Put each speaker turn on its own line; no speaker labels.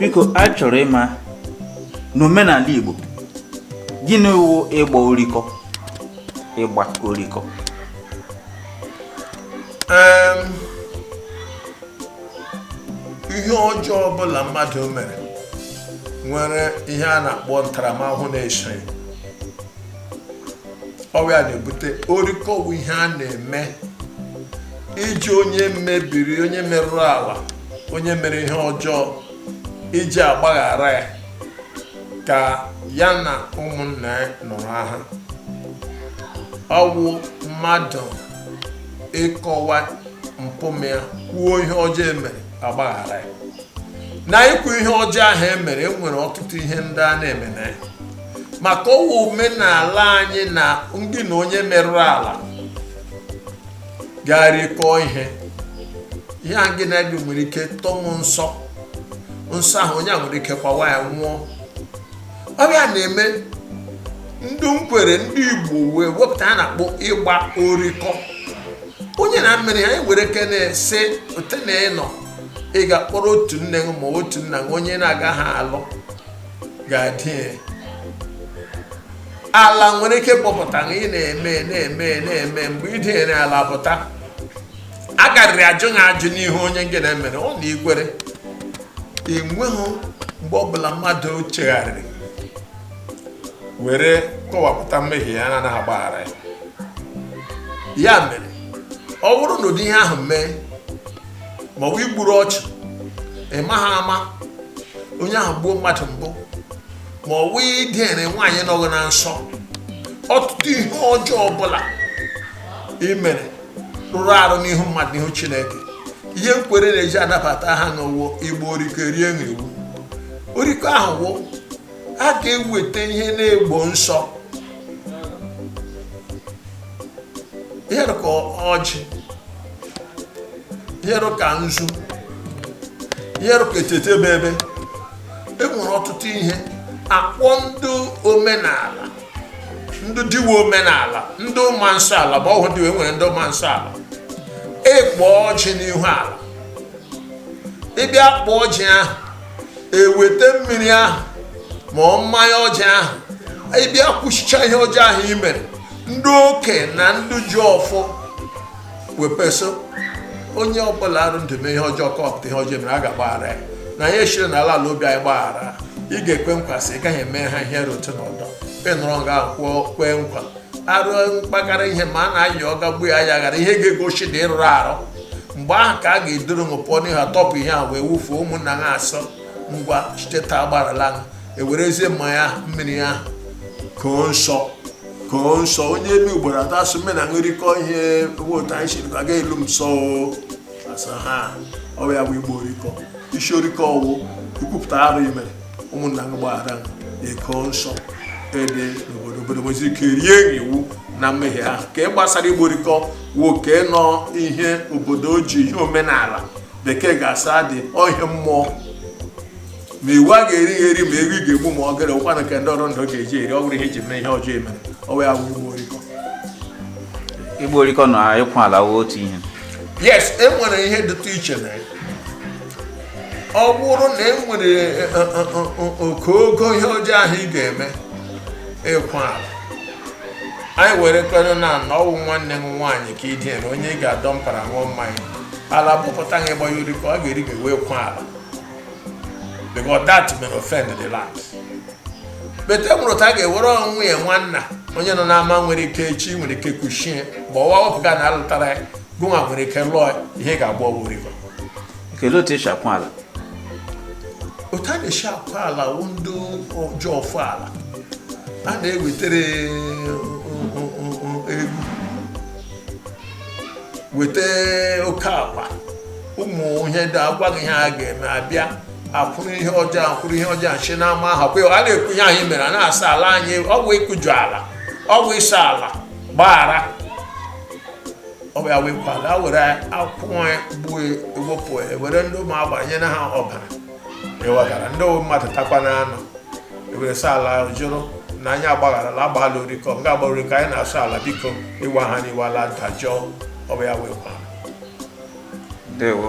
biko a chọrọ ịma n'omenala Igbo gịnị wụ ịgba orikọ ịgba orikọ
ihe ọjọọ ọbụla mmadụ mere nwere ihe a na-akpọ ntaramahụhụ na-eso ọ wụ ya na-ebute orikọ wụ ihe a na-eme iji onye mebiri onye merụrụ ala onye mere ihe ọjọọ iji agbaghara ya ka ya na ụmụnna ya nọrọ aha ọ wụ mmadụ ịkọwa mpụ m ya kwuo ihe ọjọọ o mere a gbaghara ya na ikwu ihe ọjọọ ahụ e mere e nwere ọtụtụ ihe ndị a na-eme na ya maka ọ wụ omenala anyị na gị na onye merụrụ ala ga-erikọ ihe ihe a gị na-eri nwere ike tọmụ nsọ nsọ ahụ onye a nwere ike kwawa ya nwụọ ọ bụ ya na-eme ndị nkwere ndị igbo wee wepụta ihe a na-akpọ ịgba orikọ onye na-emere ihe e nwere ike na-ese ote na ịnọ ị gakwuru otu nne gị ma otu nna gị onye na-agaghị alụ ga-adị ala nwere ike kpọpụta na ị na-eme na-eme na-eme mgbe ị dịnyere ala pụta a garịrị ajụ na ajụ n'ihe onye nke na-emere ọ na nkwere enweghị mgbe ọbụla mmadụ chegharịrị were kọwapụta mmehie ya na-anaghị agbaghara ya ya mere ọ bụrụ na ụdị ihe ahụ mee ma ọ bụ i gburu ọchụ ị maghị ama onye ahụ gbuo mmadụ mbụ ma ọ bụ idere nwaanyị nọghị na nsọ ọtụtụ ihe ọjọọ ọbụla i mere rụrụ arụ n'ihu mmadụ n'ihu chineke ihe nkwere na-eji anabata ha wụ ịgba orikọ rie na iwu orikọ ahụ wụ a ga-eweta ihe na-egbo nsọ ihe dị ka ọjị ihe dị ka nzu ihe dị ka etete bebe e nwere ọtụtụ ihe a kpọọ ndị omenala ndị diwe omenala ndị ma nsọ ala bụ ọhụrụ diwe nwere ndị ma nsọ ala ekpo ọjị n'ihu ala ị bịa kpọọ ọjị ahụ e weta mmiri ahụ ma ọ mmanya ọcha ahụ ị bịa kwusichaa ihe ọjọọ ahụ i mere ndị okenye na ndị ji ọfọ wee sị onye ọbụla dị ndụ mee ihe ọjọọ kọpụta ihe ọjọọ o mere a ga-agbaghara ya na anyị siri n'ala ala obi anyị gbaghara ị ga-ekwe nkwa sị ị gaghị eme ha ihe dị otu a ọdọ ị nọrọ nga ahụ kwee nkwa arụ mkpakara ihe ma a na-ayị ọga gbuo ya ya ghara ihe ga-egosi na ị rụrụ arụ mgbe ahụ ka a ga-eduru m pụọ n'ihu atọpụ ihe a wee wufuo ụmụnna asị ngwa site taa agbarala ewerezie mmanya ahụ mmiri ahụ koo nsọ koo nsọ onye elu ugboro atọ asụ mmiri na ṅụrịkọ ihe nwe otu anyị siri aga elu m sọ ọ wụ ya wụ ịgba orikọ isi orikọ ọ wụ ikwupụta arụ i mere ụmụnna gị gbaghara eko nsọ ndị obodo nwezi ike rie gị iwu na mmehie ahụ ka ị gbasara ịgba orikọ nwoke nọ ihe obodo ji ihe omenala bekee ga-asị dị ihe mmụọ ma iwu a ga-eri ya eri ma ewu ị ga-egbu ma ọ gara ụkwanụ nke ndị ọrụ ndụ ga-eji eri ọ bụrụ ihe iji mee ihe ọjọọ emere ọ wụ ya wụ ịgba orikọ
ịgba orikọ na ịkwa ala wụ otu ihe yes e nwere
ihe dịtụ iche na ya ọ bụrụ na e nwere e, e, e, ogogo ihe ọjọọ ahụ ị ga-eme ịkwa ala anyị were kwere na na ọ wụ nwanne gị nwaanyị ka i dina onye ị ga-adọ mpara ṅụọ mmanya ala bụpụta gị gbaa orikọ ọ ga-eri gị wee kwa ala because that may offend the land but e nwere otu a ga-ewere nwunye nwanna onye nọ n'ama nwere ike echi nwere ike kuchie ma ọwa wepụga na alụtara ya gụnwa nwere ike lụọ ihe ga-agba ọ wụ orikọ kelee
otu e si akwa
ala otu a na-esi akwa ala wụ ndị oji ọfọ ala a na-ewetere weta oke ọkpa ụmụ ihe ndị agwa gị ihe a ga-eme abịa akwụrụ ihe ọjọọ akwụrụ ihe ọjọọ nchi n'ama ahụ kwa a na-ekwu ihe anyị mere a na-asị ala anyị ọ bụ ịkụju ala ọ bụ ịsị ala gbaghara ọ bụ ya wụ ịkwa ala were ọkụkọ gbuo ewepụ were ndị ụmụ agbara nyere ha ọbara ewegara ndị wụ mmadụ takwa na anụ ewere sị ala ahụ jụrụ na anyị agbagharala agbaala orikọ nga a gbara orikọ anyị na-asị ala biko iwe ha na iwe ala dajụọ ọ bụ ya wụ
ịkwa
ndewo